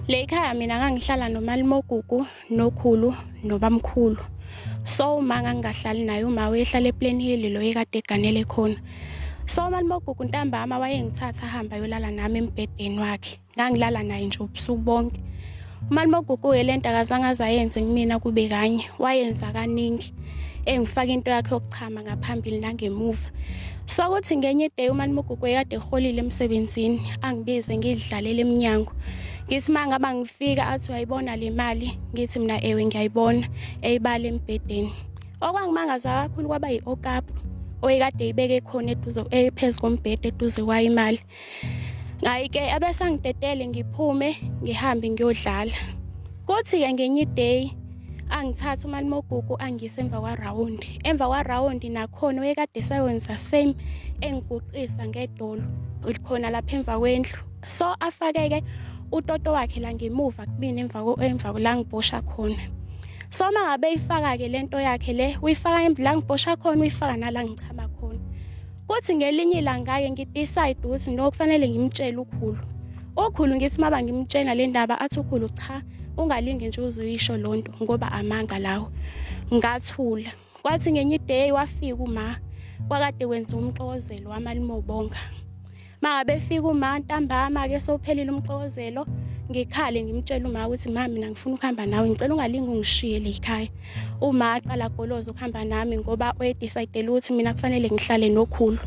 Le ikhaya mina ngangihlala nomalimogugu nokhulu nobamkhulu. So uma ngangingahlali naye uma wayehlala ePlan Hill lo ekade eganele khona. So umalimogugu ntambama wayengithatha ahamba yolala nami embhedeni wakhe. Ngangilala naye nje ubusuku bonke. Umalimogugu yelento akazange azayenze kumina kube kanye, wayenza kaningi. Engifaka into yakhe yokuchama ngaphambili nangemuva. Sakuthi ngenye day umani Mugugwe kade eholile emsebenzini angibize ngidlalela eminyango. Ngithi manga bangifika athi uyayibona le mali ngithi mina ewe ngiyayibona eyibala embhedeni. Okwangimangaza kakhulu kwaba yiOkapu oyekade ibeke khona eduze ephezulu kombhede eduze kwayimali. ngayike abesangidedele ngiphume ngihambe ngiyodlala kuthi-ke ngenye iday angithatha umalimogugu angise emva kwarawundi emva kwarawundi nakhona oyekade esayonza same engiguqisa ngedolo likhona lapha emva kwendlu so afakeke utoto wakhe la ngemuva kubini emva emva la ngibhosha khona so uma ngabe ifaka-ke le nto yakhe le uyifaka la ngibhosha khona uyifaka nala ngichama khona Kuthi ngelinye ilanga-ke ngidecide ukuthi no kufanele ngimtshele ukhulu. Okhulu ngithi maba ngimtshena le ndaba athi ukhulu cha ungalinge nje uzoyisho lo nto ngoba amanga lawo. Ngathula. Kwathi ngenye iday wafika uma kwakade kwenza umxokozelo wamalimobonga. mangabe fika uma ntambama ke sowuphelile umxokozelo ngikhale ngimtshela uma ukuthi ma mina ngifuna ukuhamba nawe ngicela ungalingi ungishiye le khaya uma aqala goloza ukuhamba nami ngoba uyedecidele ukuthi mina kufanele ngihlale nokhulu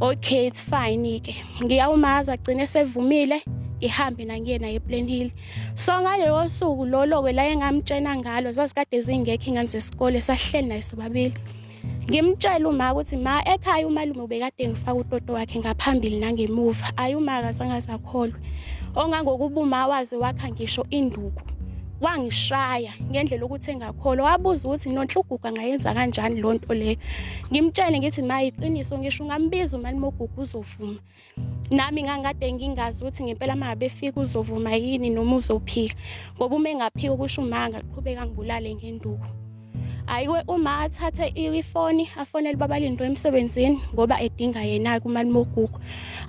okay it's fine ke ngiyawumaza agcine sevumile ngihambe nangiyena ePlan Hill so ngaleyo suku lolo ke la engamtshena ngalo zasikade zingekho ingane zesikole sahleli naye sobabili ngimtshela uma ukuthi ma ekhaya umalume ubekade ngifaka utoto wakhe ngaphambili nangemuva ayi uma akazange azakholwe ongangokuba uma waze wakha ngisho induku wangishaya ngendlela ukuthi engakholwa wabuza ukuthi nonhluguga ngayenza kanjani lonto leyo ngimtshele ngithi mayiqiniso ngisho ungambiza umalume ogugu uzovuma nami ngangikade ngingazi ukuthi ngempela uma befika uzovuma yini noma uzophika ngoba uma engaphika ukusho uma angaqhubeka ngibulale ngenduku hayiwe uma athathe ifoni afonele babalindo emsebenzini ngoba edinga yena kumali mogugu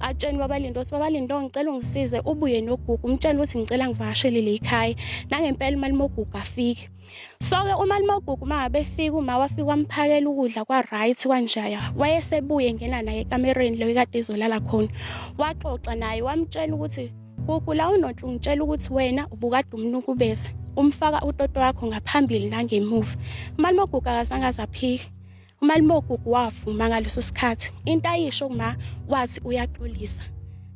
atsheni babalindo ukuthi babalindo ngicela ungisize ubuye nogugu umtshela ukuthi ngicela ngivakashelele ikhaya nangempela imali mogugu afike soke umalimogugu uma befika uma wafika wamphakela ukudla kwa-right kwanjaya wayesebuye engena naye ekamereni leyo kade ezolala khona waxoxa naye wamtshela ukuthi gugu la unonhle ungitshela ukuthi wena ubukade umnukubeza umfaka utoto wakho ngaphambili nangemuva umalimogugu akazange azaphike umalimogugu wavuma ngaleso sikhathi into ayisho kuma wathi uyaxolisa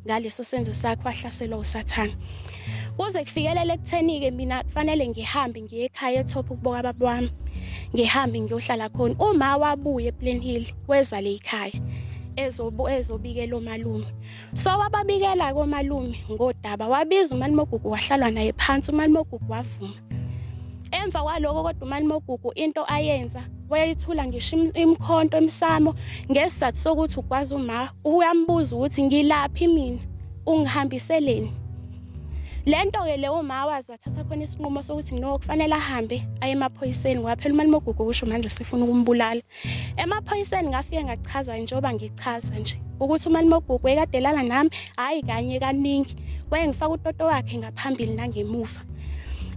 ngaleso senzo sakhe wahlaselwa usathane kuze kufikelele ekutheni-ke mina kufanele ngihambe ngiye ekhaya ethopha ukuboka baba wami ngihambe ngiyohlala khona uma wabuye eplen hill kweza le yikhaya ezobikela omalume so wababikela komalume ngodaba wabiza umalimogugu wahlalwa naye phansi umalimogugu wavuma emva kwaloko kodwa umalimogugu into ayenza wayayithula ngisho imkhonto emsamo ngesizathu sokuthi ukwazi uma uyambuza ukuthi ngilaphi mina ungihambiseleni lento-ke leyo uma wazi wathatha khona isinqumo sokuthi no kufanele ahambe aye emaphoyiseni waphela umalimogugu kusho manje sifuna ukumbulala emaphoyiseni ngafike ngachaza njengoba ngichaza nje ukuthi umalimobhuku wekadelana nami hhayi kanye kaningi wayengifaka utoto wakhe ngaphambili nangemuva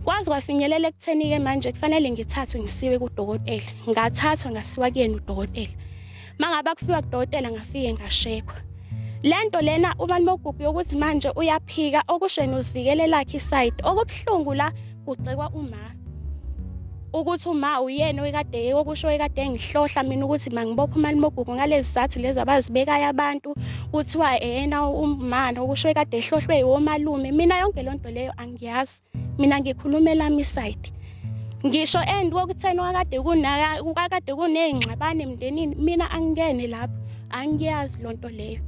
kwazi kwafinyelela ekutheni-ke manje kufanele ngithathwe ngisiwe kudokotela ngathathwa ngasiwa kuyena udokotela uma ngabe akufiwa kudokotela ngafike ngashekwa le nto lena umalimobhuku yokuthi manje uyaphika okusheni uzivikelelakhe isayidi okubuhlungu la kugxekwa uma ukuthi uma uyena oyikade yeke okusho oyikade engihlohla mina ukuthi mangibophe umali mogugu ngalezi zathu lezi abazibekayo abantu kuthiwa eyena umana okusho oyikade ehlohlwe yiwomalume mina yonke loo nto leyo angiyazi mina ngikhuluma elami isayidi ngisho and kokutheni kwakade kunaka kwakade kuney'ngxabane emndenini mina angingene lapho angiyazi loo nto leyo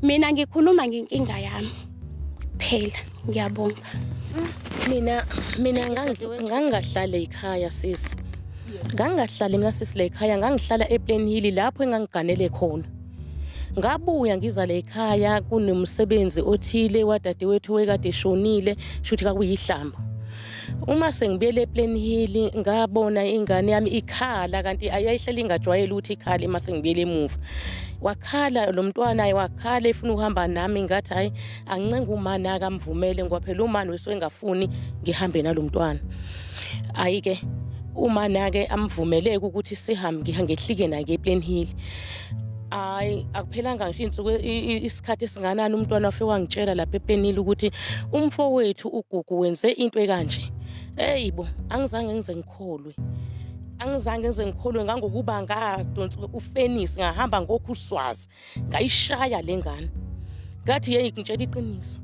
mina ngikhuluma ngenkinga yami phela ngiyabonga mina mina ngangingahlale yikhaya sisi ngangingahlali mina sisi la yikhaya ngangihlala eplane hili lapho engangiganele khona ngabuya ngiza la yikhaya kunomsebenzi othile wadadewethu wekade eshonile shuthi kakuyihlamba uma sengibuyele eplane hili ngabona ingane yami ikhala kanti ayihleli ingajwayele ukuthi ikhale uma sengibuyele emuva wakhala lo mntwana wakhala efuna ukuhamba nami ngathi hhayi angincenge umani akamvumele ngoba phela umani wesuke engafuni ngihambe nalo mntwana ayike uma nake amvumeleke ukuthi sihambe ngiha ngehlike nake ePlen Hill hayi akuphelanga ngisho insuku isikhathi esinganani umntwana wafe wangitshela lapha ePlen Hill ukuthi umfowethu uGugu wenze into ekanje eyibo angizange ngize ngikholwe angizange ngize ngikholwe ngangokuba ngadonsa ufenisi ngahamba ngokhuswazi ngayishaya le ngane ngathi yeyi ngitshela iqiniso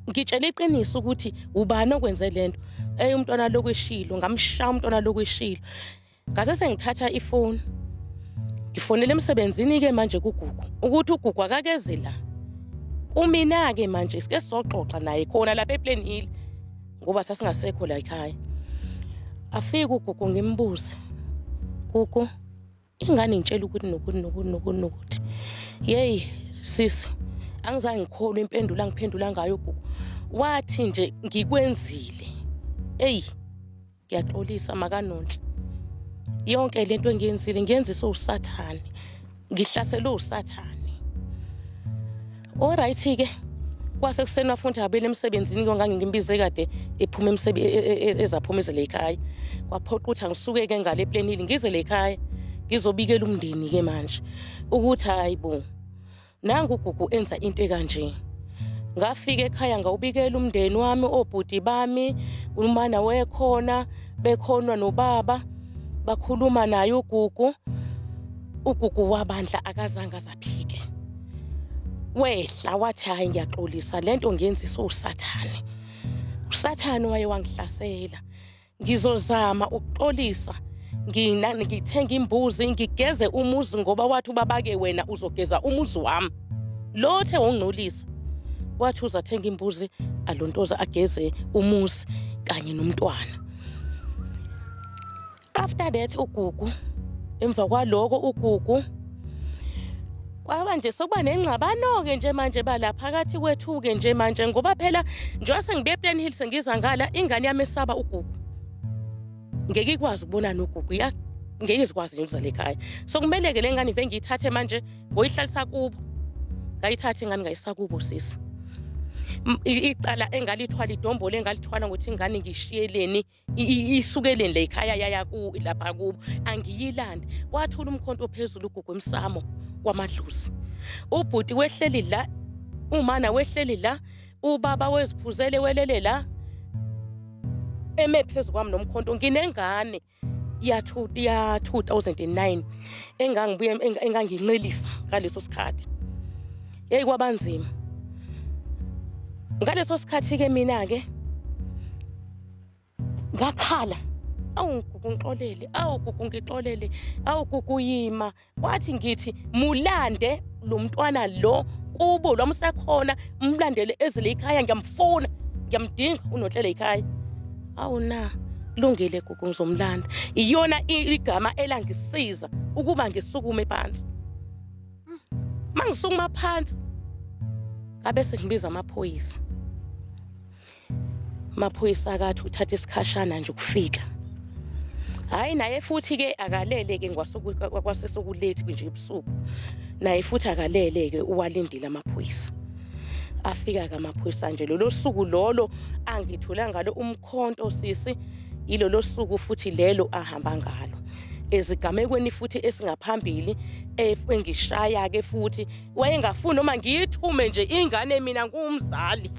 ngitshela iqiniso ukuthi ubani okwenze le nto eye umntwana lokhu eshilo ngamshaya umntwana lokhu eshilo ngase sengithatha ifoni ngifonele emsebenzini-ke manje kugugu ukuthi ugugu akakeze la kumina-ke manje sike sizoxoxa naye khona lapha eplan hill ngoba sasingasekho la ekhaya afike ugugu ngimbuze gugu ingane ngitshela ukuthi nokuthi nokuthi nokuthi nokuthi yeyi sisi angizange ngikholwe impendulo angiphendula ngayo gugu wathi nje ngikwenzile eyi ngiyaxolisa makanonhle yonke le nto engiyenzile ngiyenziswe usathane ngihlaselwe usathane Alright ke kwase kuseni wafundi habeni emsebenzini ke ngangingimbize kade ephuma emsebenzi e, e, e, ezaphuma izele ekhaya kwaphoqa ukuthi angisuke ke ngale planili ngizele ekhaya ngizobikela umndeni ke manje ukuthi hayibo nangu ugugu enza into ekanje ngafika ekhaya ngawubikela umndeni wami obhuti bami umana wekhona bekhona nobaba bakhuluma naye ugugu ugugu wabandla akazange Phike. Wehla wathi hayi ngiyaxolisa lento ngenzisa usathane. Usathane waye wangihlasela. Ngizozama ukuxolisa. Ngina ngithenga imbuzi ngigeze umuzi ngoba wathi ubabake wena uzogeza umuzi wami. Lothe wongcolisa. Wathi uzathenga imbuzi alontoza ageze umuzi kanye nomntwana. after that ugugu emva kwaloko ugugu kwaba nje sokuba nengxabano-ke nje manje bala phakathi kwethu-ke nje manje ngoba phela njengoba sengibuye eplan hill sengiza ngala ingane yami esaba ugugu ngeke ikwazi ukubona nogugu ngeke izikwazi nje ukuzala ekhaya so kumele-ke le ngane ive ngiyithathe manje ngoyihlalisa kubo ngayithathe ingane ngayisa kubo sisi icala engalithwala idombolo engalithwala ngokuthi ingane ngishiyeleni isukeleni le ikhaya yaya ku lapha kubo angiyilandi kwathula umkhonto ophezulu ugugu emsamo kwamadlusi ubhuti wehleli la umana wehleli la ubaba weziphuzele welele la eme phezu kwami nomkhonto nginengane ya 2009 engangibuye engangincelisa ngaleso sikhathi yeyi kwabanzima ngaleso sikhathi-ke mina-ke ngakhala awu ngugu ngixolele awu gugu ngixolele awu gugu yima wathi ngithi mulande lo mntwana lo kubo lwami usekhona umlandele ezile ikhaya ngiyamfuna ngiyamdinga unonhlele ikhaya awu na lungile gugu ngizomlanda iyona igama elangisiza ukuba ngisukume phansi mangisukuma phansi ngabe sengibiza amaphoyisa maphoyisa akathi uthatha isikhashana nje ukufika hayi naye futhi ke akalele ke ngwasesokulethi nje ebusuku naye futhi akalele ke uwalindile amaphoyisa afika ke amaphoyisa nje lolo suku lolo angithola ngalo umkhonto sisi yilolo suku futhi lelo ahamba ngalo ezigamekweni futhi esingaphambili engishaya ke futhi wayengafuni noma ngiyithume nje ingane mina ngumzali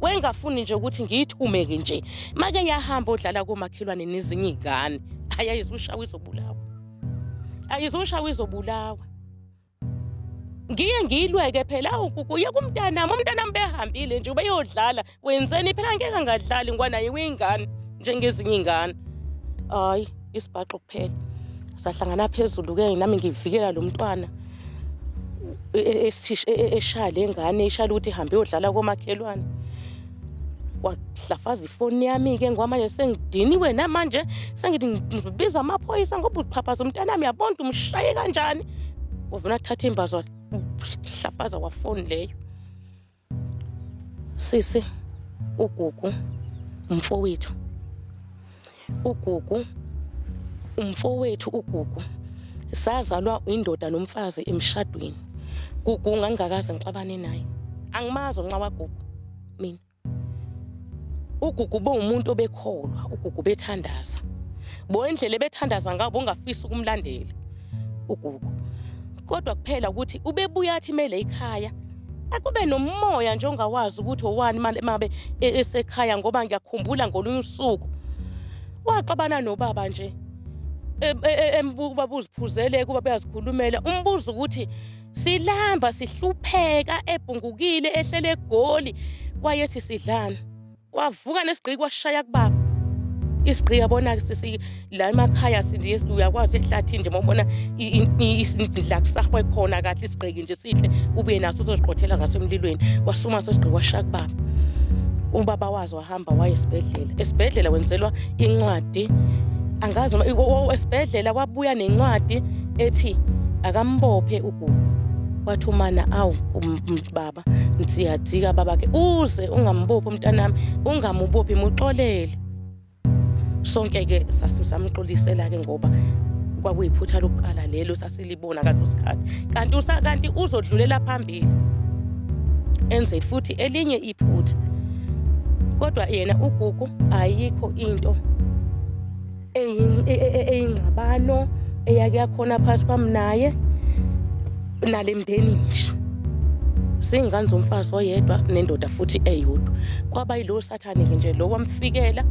wayengafuni nje ukuthi ngiyithumeke nje make yahamba odlala komakhelwane nezinye iy'ngane ayayizushawa izobulawa ayizushawa izobulawa ngiye ngiyilweke phela awukukuye kumntanami umntanami behambile nje ubeyodlala wenzeni phela ngeke ngadlali ngoba naye uyingane njengezinye iy'ngane hhayi isibhaxo kuphela sahlangana phezulu-ke nami ngivikela lo mntwana e, e, e, eshaya le ngane eshaya ukuthi ihambe yodlala komakhelwane wahlafaza ifoni yami-ke ngoba manje sengidiniwe namanje sengithi ngibiza amaphoyisa ngoba uxhaphaza umntana wami yabona umshaye kanjani wavuna athatha imbazo wahlafaza wafoni leyo Sisi uGugu umfowethu. UGugu umfowethu uGugu sazalwa indoda nomfazi emshadweni. Gugu ngangingakaze ngixabane naye. Angimazi nxa waGugu mina. UGugu bowumuntu obekholwa, uGugu bethandaza. Bo indlela ebethandaza ngabo ungafisa ukumlandela. uGugu kodwa kuphela ukuthi ubebuya athi mele ikhaya akube nomoya nje ongawazi ukuthi owani mabe e, esekhaya ngoba ngiyakhumbula ngolunye usuku waxabana nobaba nje e, e, embuka ubaba uziphuzele kuba beyazikhulumela umbuzo ukuthi silamba sihlupheka ebhungukile ehlele egoli wayethi sidlana Kwavuka nesigqiki kwashaya kubaba. Isigqiki yabona sisi la emakhaya sindi uyakwazi ehlathini nje mawubona isindla kusahwe khona kahle isigqiki nje sihle ubuye naso uzoziqothela ngaso emlilweni wasuma sesigqiki kwashaya kubaba. Ubaba wazo wahamba waye esibhedlela. Esibhedlela wenzelwa incwadi angazi esibhedlela kwabuya nencwadi ethi akambophe ugugu wathi umana awu baba Baba nsiyajika baba ke uze ungambophi umntanami ungamubophi muxolele sonke ke sasisamxolisela ke ngoba kwakuyiphutha lokuqala lelo sasilibona kathi usikhathi kanti usakanti uzodlulela phambili enze futhi elinye iphutha kodwa yena ugugu ayikho into eyingxabano eyake yakhona phakathi kwami naye nale mndeni ngisho singane zomfazi oyedwa nendoda futhi eyodwa kwaba yilowo sathane-ke nje lo wamfikela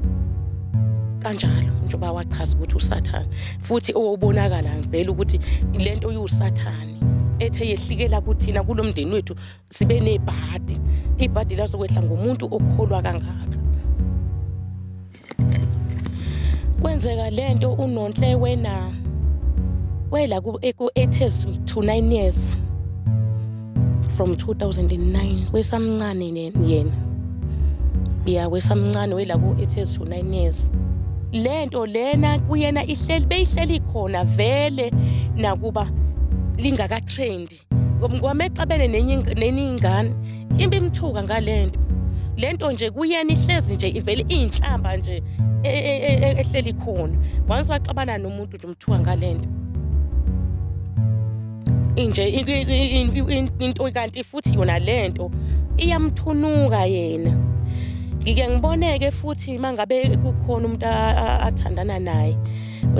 kanjalo njengoba wachaza ukuthi usathane futhi owobonakala ngivele ukuthi le nto iwusathane ethe yehlikela kuthina kulo mndeni wethu sibe nebhadi ibhadi lazokwehla ngomuntu okholwa kangaka kwenzeka lento unonhle wena wela ku ethers to 9 years from 2009 wesamncane yena ya wesamncane wela ku ethers to 9 years lento lena kuyena ihleli beyihleli khona vele nakuba lingaka trendi Ngoba exabene nenye nenye ingane imbe imthuka ngalento. Lento nje kuyena ihlezi nje ivele inhlamba nje e, e, e, ehleli khona. Once waxabana nomuntu nje umthuka ngalento. Inje into kanti futhi yona lento iyamthunuka yena. Ngike ngiboneke futhi mangabe kukhona umuntu athandana naye.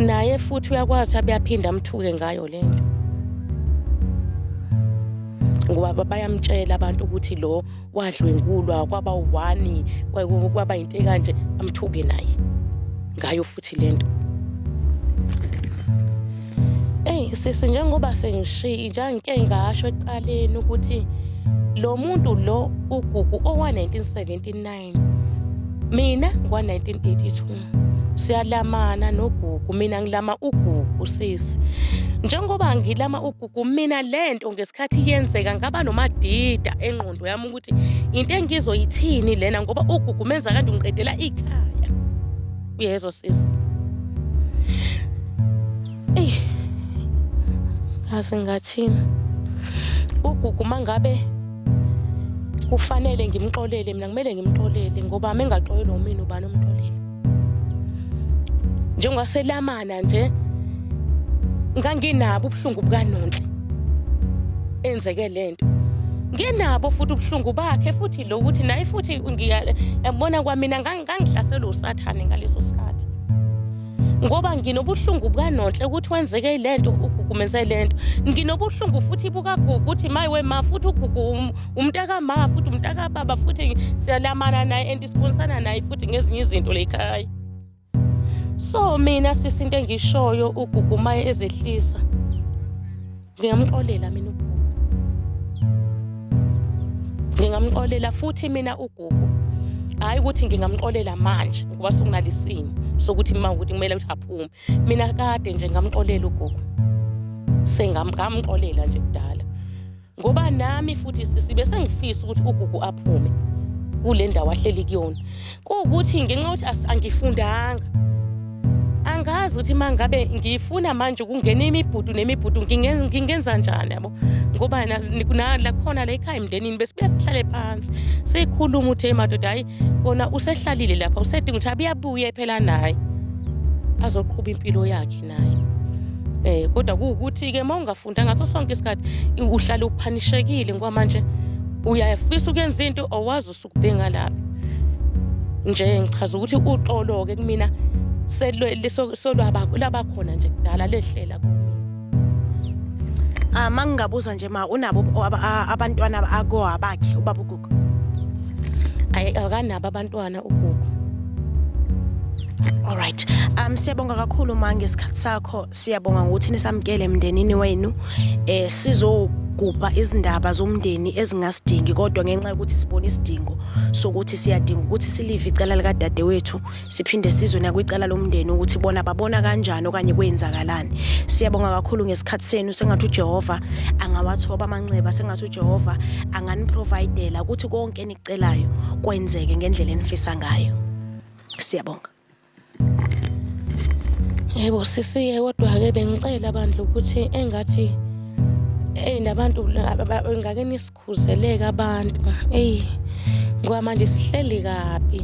naye futhi uyakwazi abe aphinde amthuke ngayo le nto ngoba bayamtshela abantu ukuthi lo wadlwengulwa kwaba u-one kwaba yinto ekanje amthuke naye ngayo futhi le nto eyi sisi njengoba sengishiyi njangike ngasho ekuqaleni ukuthi lo muntu lo ugugu owa-1979 mina mina ngwa-1982 siyalamana nogugu mina ngilama ugugu sisi njengoba ngilama ugugu mina le nto ngesikhathi yenzeka ngaba nomadida engqondo yami ukuthi into engizoyithini lena ngoba ugugu menza kanti ungiqedela ikhaya uyezwa sisi eyi ngaze ngathini ugugu uma ngabe kufanele ngimxolele mina kumele ngimxolele ngoba mengaxolelwa umina ubani omxolele njengoba selamana nje nganginabo ubuhlungu bukanonhle enzeke lento nginabo futhi ubuhlungu bakhe futhi lo ukuthi naye futhi ngiyabona kwamina ngangihlaselwe usathane ngaleso sikhathi ngoba nginobuhlungu bukanonhle ukuthi wenzeke le nto ugugu menze le nto nginobuhlungu futhi bukagugu ukuthi mayi wema futhi ugugu um, umntakama futhi umntakababa futhi siyalamana naye and sibonsana naye futhi ngezinye izinto lekhaya so mina sisi into engishoyo ugugu maye ezehlisa ngingamxolela mina ugugu ngingamxolela futhi mina ugugu hhayi ukuthi ngingamxolela manje ngoba sekunalisimo sokuthi ma ukuthi kumele ukuthi aphume mina kade nje ngamxolela ugugu sengamxolela nje kudala ngoba nami futhi sisibe sengifisa ukuthi ugugu aphume kule ndawo ahleli kuyona kuwukuthi ngenxa yokuthi as- angifundanga angazi ukuthi uma ngabe ngifuna manje ukungena imibhudu nemibhudu nginge- ngingenza njani yabo ngoba na- ni- na- lakhona la ekhaya emndenini besibuye sihlale phansi sikhuluma ukuthi hey madoda hayi kona usehlalile lapha usedinga ukuthi abuyabuye phela naye azoqhuba impilo yakhe naye eh kodwa kuwukuthi-ke uma ungafunda ngaso sonke isikhathi i- uhlale uphanishekile ngoba manje uyafisa ukuyenza into owazi usu- Kubhinga lapha. Nje ngichaza ukuthi uxolo ke kumina solwaba khona nje kudala lehlela ah mangingabuza nje ma unabo abantwana akoa bakhe ubaba ugugu ayi akanabo abantwana ugugu Alright. Um siyabonga kakhulu ma ngesikhathi sakho. Siyabonga ngokuthi nisamkele emndenini wenu eh sizo ukugubha izindaba zomndeni ezingasidingi kodwa ngenxa yokuthi sibona isidingo sokuthi siyadinga ukuthi silive icala likadadewethu siphinde sizwe nakwicala lomndeni ukuthi bona babona kanjani okanye kwenzakalani siyabonga kakhulu ngesikhathi senu sengathi uJehova angawathoba amanxeba sengathi uJehova anganiprovidela ukuthi konke enicelayo kwenzeke ngendlela enifisa ngayo siyabonga Yebo sisiye kodwa-ke bengicela bandla ukuthi engathi eyi nabantu ngake nisikhuzeleke abantu eyi ngoba manje sihleli kabi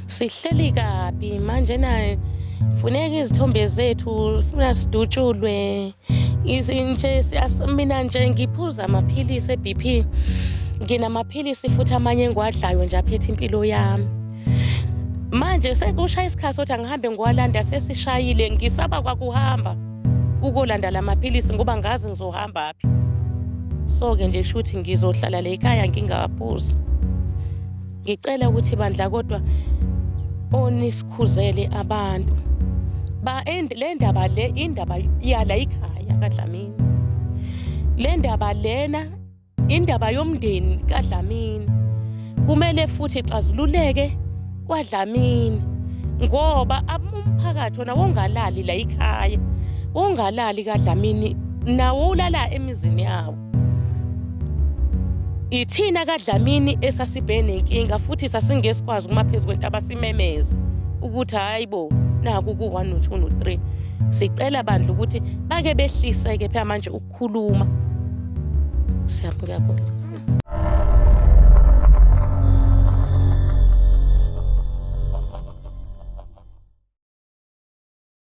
sihleli kabi manje na funeka izithombe zethu funa sidutshulwe izinje mina nje ngiphuza amaphilisi e-b p nginamaphilisi futhi amanye engiwadlayo nje aphethe impilo yami manje sekushaya isikhathi sokuthi angihambe ngiwalanda sesishayile ngisaba kwakuhamba ukolanda la maphilisi ngoba ngazi ngizohamba phi so-ke nje shuthi ngizohlala le ekhaya ngingaphuzi ngicela ukuthi bandla kodwa onisikhuzele abantu ba le ndaba le indaba yala ikhaya kadlamini le ndaba lena Indaba yomndeni kaDlamini kumele futhi ixazululeke kwaDlamini ngoba umphakathi wona wongalali la ikhaya wongalali kaDlamini nawo ulala emizini yawo ithina kaDlamini esasibheke nenkinga futhi sasingesikwazi kuma phezu kwentaba simemeze ukuthi hayi bo naku ku-1 no-2 no-3 sicela bandla ukuthi bake behliseke phela manje ukukhuluma siyabonga sisi